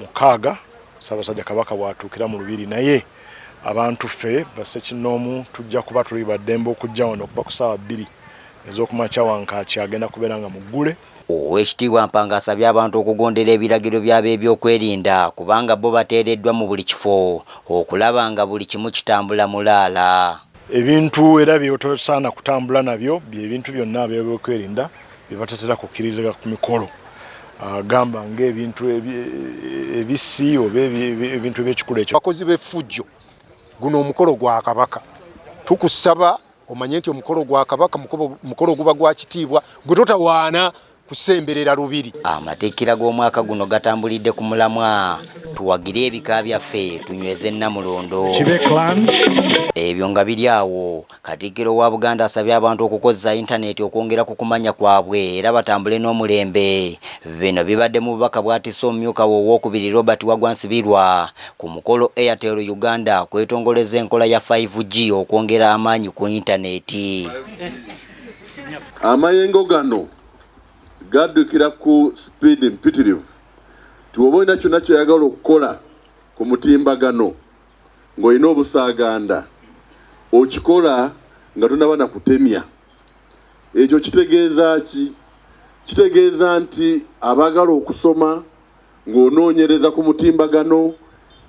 mukaaga Ssaabasajja Kabaka bw'atuukira mu Lubiri naye abantu ffe bassekinnoomu tujja kuba tuli ba ddembe okujja wano okuva ku ssaawa bbiri ez'okumakya Wankaaki agenda kubeera nga muggule. Oweekitiibwa Mpanga asabye abantu okugondera ebiragiro by'abeebyokwerinda kubanga bbo bateereddwa mu buli kifo okulaba nga buli kimu kitambula mulaala. Ebintu era by'otosaana kutambula nabyo bye bintu byonna abeebyokwerinda bye batatera kukkirizika ku mikolo ah, gamba ng'ebintu ebissi oba ebintu ebyekikulu ekyo bakozi b'effujjo guno omukolo gwa kabaka tukusaba omanye nti omukolo gwa kabaka mukolo guba gwa kitiibwa gwe totawaana kusemberera lubiri amateekera g'omwaka guno gatambulidde ku mulamwa tuwagire ebika byaffe tunyweze nnamulondo ebyo nga biri awo Katikkiro wa Buganda asabye abantu okukozza yintaneeti okwongera ku kumanya kwabwe era batambule n'omulembe. Bino bibadde mu bubaka bwatisse omumyuka we owookubiri Robert Wagwa Nsibirwa ku mukolo Airtel Uganda kwetongolezza enkola ya Five G okwongera amaanyi ku yintaneeti. Amayengo gano gaddukira ku sipiidi mpitirivu nti bw'oba olina kyonna ky'oyagala okukola ku mutimbagano nga olina obusaaganda okikola nga tonaba na kutemya. Ekyo kitegeeza ki? Kitegeeza nti abaagala okusoma ng'onoonyereza ku mutimbagano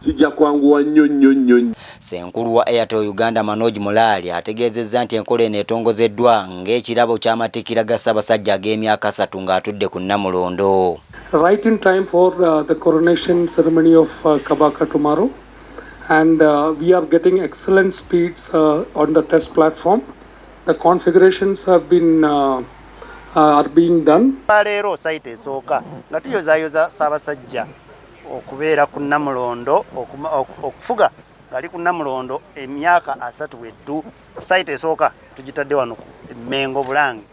kijja kwanguwa nnyo nnyo nnyo. Ssenkulu wa Airtel Uganda Manoj Mulali ategeezezza nti enkola eno etongozeddwa ng'ekirabo ky'amatikkira ga Ssabasajja ag'emyaka asatu ng'atudde ku Nnamulondo. Right in time for uh, the coronation ceremony of uh, Kabaka tomorrow, and uh, we are getting excellent speeds uh, on the test platform. The configurations have been uh, uh, are being done. Leero site esooka nga tuyozayoza Ssaabasajja okubeera ku Namulondo okufuga ngali ku Namulondo emyaka asatu weddu Sayita esooka tugitadde wano ku Mengo Bulange.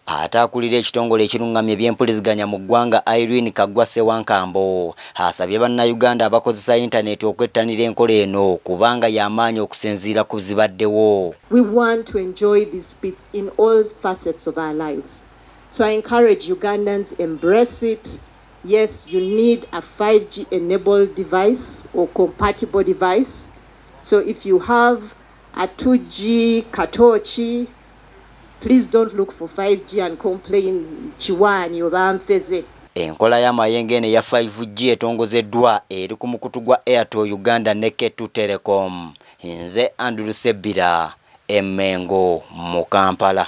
Ate akulira ekitongole ekirungamya ebyempuliziganya mu ggwanga Irene Kaggwa Ssewankambo asabye bannayuganda abakozesa yintaneeti okwettanira enkola eno kubanga ya maanyi okusinziira ku zibaddewo. We want to enjoy these beats in all facets of our lives so I encourage Ugandans embrace it yes you need a 5G enabled device or compatible device so if you have 2G katooki please don't look for 5G and complain kiwaani oba nfeze. Enkola ya Mayengo eno eya 5G etongozeddwa eri ku mukutu gwa Airtel Uganda ne K2 Telecom. Nze Andrew Ssebbira e Mengo mu Kampala.